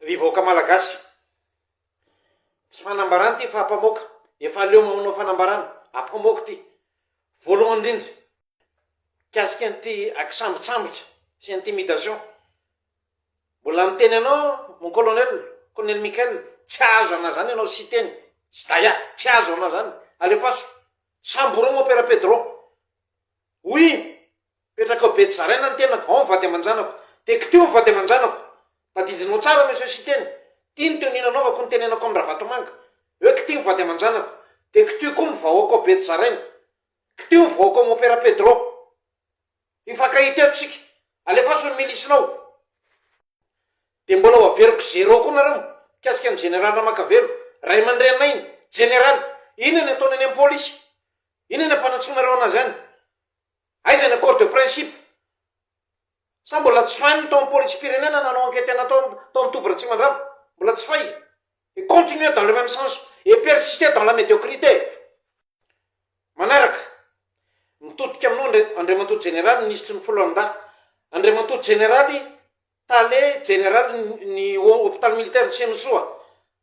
Ry vahoaka Malagasy. Tsy fanambarana ity fa ampamoaka. Efa aleo maonao fanambarana. Ampamoaka ity. Voalohany indrindra, mikasika an'ity akisambotsambotra sy intimidation. Mbola miteny anao mon colonel, Colonel Michael, tsy azo anao zany anao Siteny, Sdaya, tsy azo anao zany. Alefaso. Samboromo Père Pedro. Oui. Mipetraka ao Betsarena ny tenako, ao ny vady aman-janako. Tiako teo ny vady aman-janako. Tadidinao tsara Monsieur Siteny. Tiany teo ny nanaovako ny tenenako amin'i Ravatomanga. Eo k'ity ny vady aman-janako. Dia k'ty koa ny vahoaka ao Betsarena. K'ty ny vahoaka ao Mompera Pedro. Hifankahita eto isika. Alefaso ny milisinao. Dia mbola ho averiko zéro koa nareo mikasika ny Jeneraly Ramakavelo. Ray aman-dreninay ny Jeneraly. Inona ny ataony any amin'ny Polisy? Inona ny ampanantsoinareo anazy any? Aiza ny accord de principe? Sa mbola tsy fay ny tao am polisim-pirenena nanao enquete anao tao tao am toby Ratsimandrava? Mbola tsy fay? Et continuer dans le même sens et persister dans la médiocrité! Manaraka, mitodika aminao Andri Andriamatoa Jeneraly Minisitry ny Foloalindahy, Andriamatoa Jeneraly Tale Jeneraly ny ny Hopitaly Militaire Nsenosoa,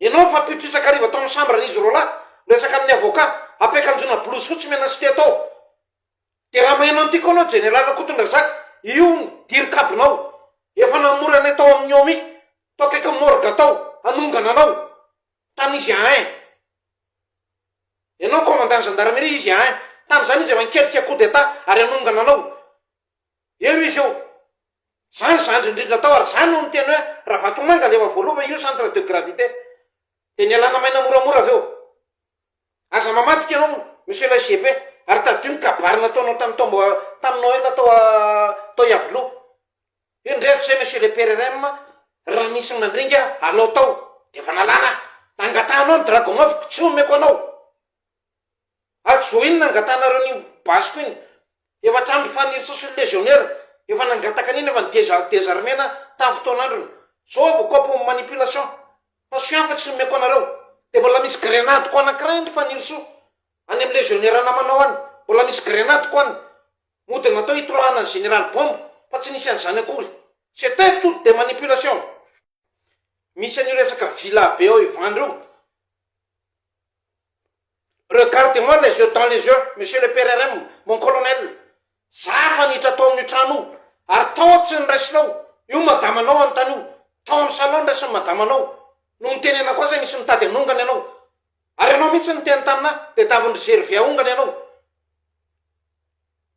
Ianao efa pito isan-kariva tao amin'ny chambre izy roa lahy miresaka amin'ny avocat ampiakanjoana blouse fotsy mena sy teto ao dia raha maheno an'ity koa ianao Jeneraly Rakotondrazaka io ny dirikabinao efa namory anay tao amin'ny Omi tao akaikin'ny morgue tao hanongana anao tany izy ahin Ianao Commandant Gendarmerie izy ahin tamin'izany izy efa nikelika coup d'Etat ary hanongana anao Eo izy eo. Zany zandry indrindra tao ary zany no niteny hoe Ravatomanga ande efa voaloa fa io centre de gravité. De nialana maina moramora avy eo. Aza mamadika ianao monsieur lay GP ary tadidio ny kabary nataonao tamin'ny taom tamin'ny Noël tao tao Iavoloha. Io indray hatrizay monsieur le PRRM raha misy ny mandringa alao tao de efa nalana. Angatahanao ny dragon-avoko tsy omeko anao. Ajobo iny nangatanareo an'iny basiko iny. Efa hatramin'ny fanirsa sy ny légionnaire efa nangataka an'iny efa ny deza désarmena tamin'ny fotoan'androny. Zao vao copy manipulation. Fa soin fa tsy nomeko anareo. Dia mbola misy grenade ko anankiray any fanirso any amin'ny légionnaire namanao any. Mbola misy grenade ko any. Mody natao hitroahana ny général bombe fa tsy nisy an'izany akory. C'etait tout des manipulations. Misy an'io resaka villa be ao Ivandry io. Regarde moi les yeux dans les yeux monsieur le PRRM, mon colonel, za hanitra tao amin'io trano io, ary tao aho tsy niraisinao, io madamanao anontaniho, tao amin'ny salon niraisin'ny madamanao, no nitenenako azy nisy nitady hanongana ianao, ary ianao mihitsy niteny tamina dia davin-dry Gervais ahongana ianao,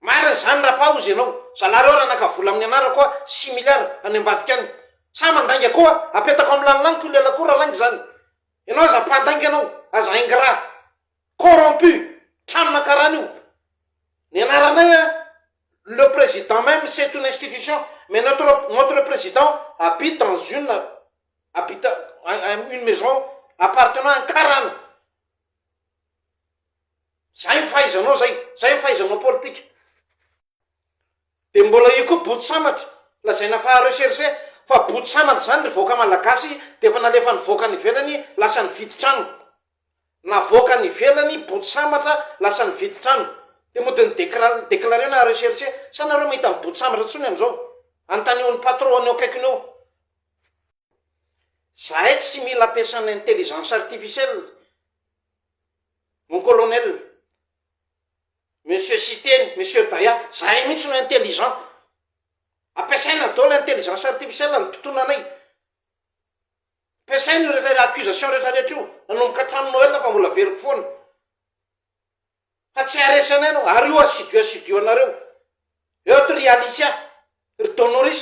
marina izany raha paozy ianao, zalahy reo raha naka vola amin'ny anarako hoa six milliards any ambadika any, sa mandainga koa apetako amin'ny lanilaniko io lela koa raha lainga izany, Ianao aza mpandainga ianao, aza ingrat, corrompu, tranona karaha an'io. Ny anaranay a, le président même c'est une institution, mais notre notre président habite dans une habite une maison appartenant à un karana. Zay ny fahaizanao zay, zay ny fahaizanao politika. Dia mbola io koa boto sambatra, lazaina fa recherche, fa boto sambatra izany ry vahoaka malagasy dia efa nalefa nivoaka any ivelany lasa nividy trano. Navoaka any ivelany boto sambatra lasa nividy trano. Dia mody ny decra declarena recherche, sa nareo mahita ny boto sambatra intsony amin'izao? Anontanio ny patron any eo akaikiny eo. Zahay tsy mila ampiasana intelligence artificielle mon colonel. Monsieur Siteny, Monsieur Daya, zahay mihitsy no intelligent. Ampiasaina daholo intelligence artificielle amin'ny mpitona anay. Ampiasaina io rehetra accusation rehetra rehetra io, nanomboka hatramin'ny Noël fa mbola veriko foana. Fa tsy haharesy anay ianao, ary io assidu assidu anareo. Eo ato ry Alicia, ry Donoris,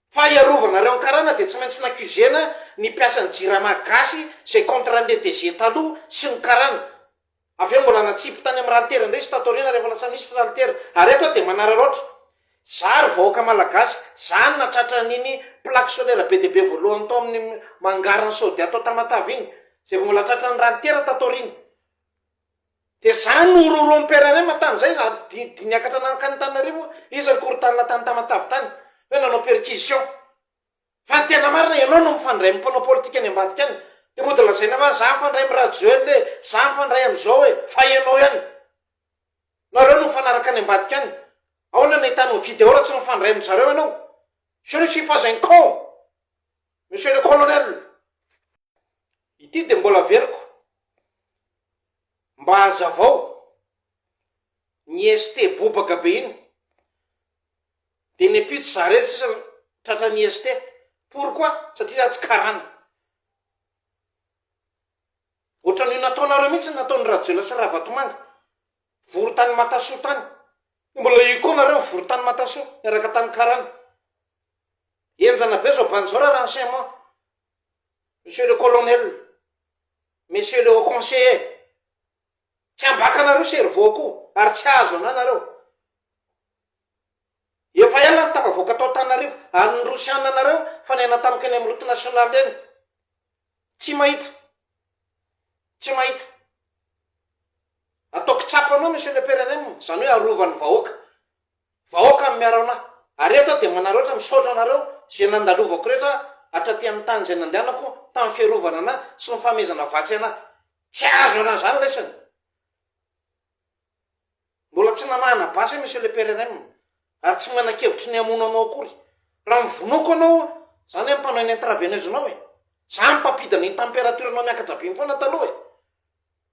Fa hiarovanareo ny karana dia tsy maintsy n'accusena ny mpiasan'ny jirama gasy zay contrat an'le DG taloha sy ny karana. Avy eo mbola natsipy tany amin'ny ralitera indray izy tato aoriana rehefa lasa minisitra ralitera. Ary eto aho dia manararaotra. Za ry vahoaka malagasy, za no natratra an'iny plaque solaire be dia be voalohany tao amin'ny hangaran'i Saudia tao Tamatave iny, zay vao mbola tratran'ny ralitera tato aoriana. Dia za no horohoroan'i Père Rema tamin'izay na dia dia niakatra nankany Antananarivo izy ary korotanina tany Tamatave tany hoe nanao perquisition. Fa ny tena marina ianao no mifandray amin'ny mpanao politika any ambadika any. Dia mody lazaina fa za mifandray amin'i Rajoel e, za mifandray amin'izao e. Fa ianao ihany. Nareo no mifanaraka any ambadika any. Ahoana no ahitanao video raha tsy mifandray amin-dry zareo ianao? Je ne suis pas un con, Monsieur le Colonel. Ity dia mbola averiko. Mba hazavao, ny ST bobaka be iny de ny ampitso zarel sisa tratran'ny ST, pourquoi? Satria za tsy karana. Ohatran'io nataonareo mihitsy ny nataon'i Rajoelina sy Ravatomanga, vory tany Matasoa tany, de mbola io koa nareo mivory tany Matasoa miaraka tany karana. Henjana be zao bandy zao ra renseignement. Monsieur le colonel, monsieur le haut conseiller, tsy ambakanareo cerveau-ko ary tsy hahazo anah nareo. Efa ela no tafavoaka tao Antananarivo ary ny Rosiana nareo fa niaina tamiko eny amin'ny route nationale eny. Tsy mahita, tsy mahita. Ataoko tsapa anao monsieur le PRNM, izany hoe arovany vahoaka. Vahoaka amin'ny Araona. Ary eto aho dia manary ohatra misaotra anareo izay nandalovako rehetra hatraty amin'ny tany izay nandehanako tamin'ny fiarovana anah sy ny fanomezana vatsy anah. Tsy azo ialana izany lesona. Mbola tsy namahana basy aho Monsieur le PRRM ary tsy manan-kevitry ny hamono anao akory. Raha ny vonoako anao, izany hoe mpanao eny intraveneuse-nao e. Izaho mpampidina ny temperature-nao miakatra be foana taloha e.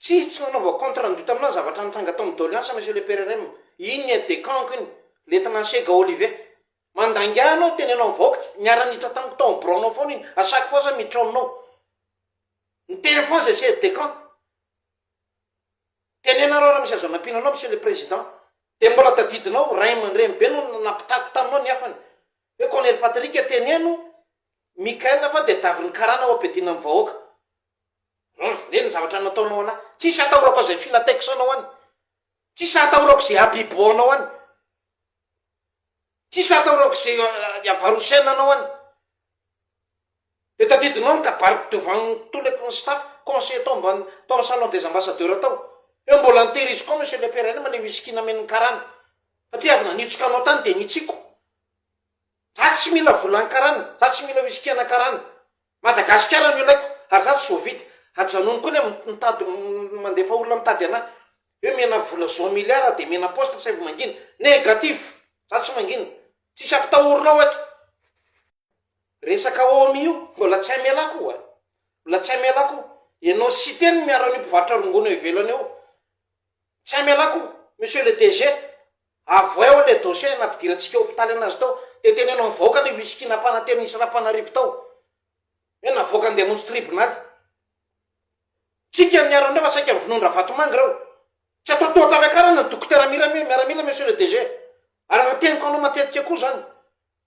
Tsisy tsy nanaova contre andu taminah zavatra nitranga tao amin'ny doleance monsieur le PRRM. Iny ny aide de camp-ko iny. Lieutenant Asega Olive. Mandainga ahy ianao, teneno amin'ny vahoaka tsy, niara-niditra tamiko tao amin'ny biraonao foana iny. A chaque fois za miditra ao aminao. Niteny foana izay aide de camp. Tenenareo raha misy azo anampiana anao monsieur le président. Dia mbola tadidinao, ray aman-dreny be no nampitako taminao ny hafany. Hoe Colonel Patrick teneno Michael fa dia tadiavin'ny karana ho ampidina amin'ny vahoaka. Humm neny ny zavatra nataonao ana, tsisy atahorako zay fila tex anao any, tsisy atahorako ze habibo anao any, tsisy atahorako ze avarosaina anao any, de tadidinao ny kabariko devant ny toleko ny staff conseil atao ambany tao am salon des ambassadeurs tao, eo mbola nitehiriziko ao monsieur le père any mba le whisky namen'ny karana, satria avy nanitsika anao tany de nitsiko. Za tsy mila volan karana, za tsy mila whisky ana karana, Madagasikara no ilaiko, ary za tsy zovidy, ajanony koa le mitady mandefa olona mitady ana, hoe mena vola zao milliard aho de mena poste saivo mangina, negatif, za tsy mangina, tsisy ampitahorina ao eto. Resaka omi io mbola tsy amelako io a, mbola tsy amelako io, enao sy siteny no miaro an'io mpivarotra rongony eo ivelany eo, tsy amelako io, monsieur le DG, Avoaeo le dossier nampidirantsika hopitaly anazy tao de teneno am vahoaka le whisky napana teo nisy rapanarivo tao hoe navoaka andeha hamonjy tribonaly tsika ny arandreo fa saika vonoin dravatomanga reo tsy atao toa tapiakarana ny dokotera mirame miaramila monsieur le DG ary efa teniko anao matetika koa zany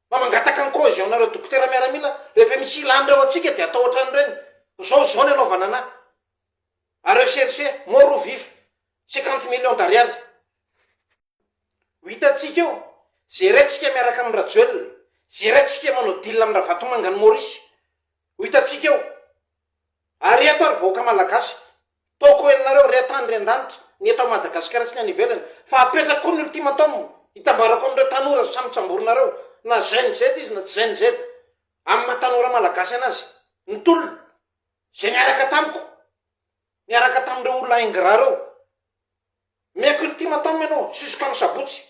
fa mangataka ny cohesion nareo dokotera miaramila rehefa misy ilany reo antsika de atao otran'ireny zao zao ny anaovana anah Areo chercher mort ou vif cinquante millions d'ariary ho hitantsika eo, zeraintsika miaraka amin'i Rajoelina, zeraintsika manao deal amin'i Ravatomanga an'i Maurice ho hitantsika eo. Ary eto ary vahoaka Malagasy, toako henonareo ry an-tany ry an-danitra, ny eto Madagasikara sy ny any ivelany, fa apetrako koa ny ultimatum hitambarako amin'ireo tanora sy samy tsamborinareo, na zen-z izy na tsy zen-z, amin'ny maha tanora Malagasy anazy, ny tolona, Izay niaraka tamiko, niaraka tamin'ireo olona ingrat ireo. Meko ultimatum ianao jusqu'amin'ny sabotsy.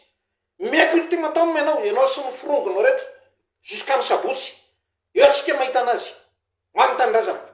Meko ultimatum ianao, ianao sy ny firongonao rehetra jusqu'amin'ny sabotsy. Eo antsika mahita an'azy. Ho an'ny tanindrazana.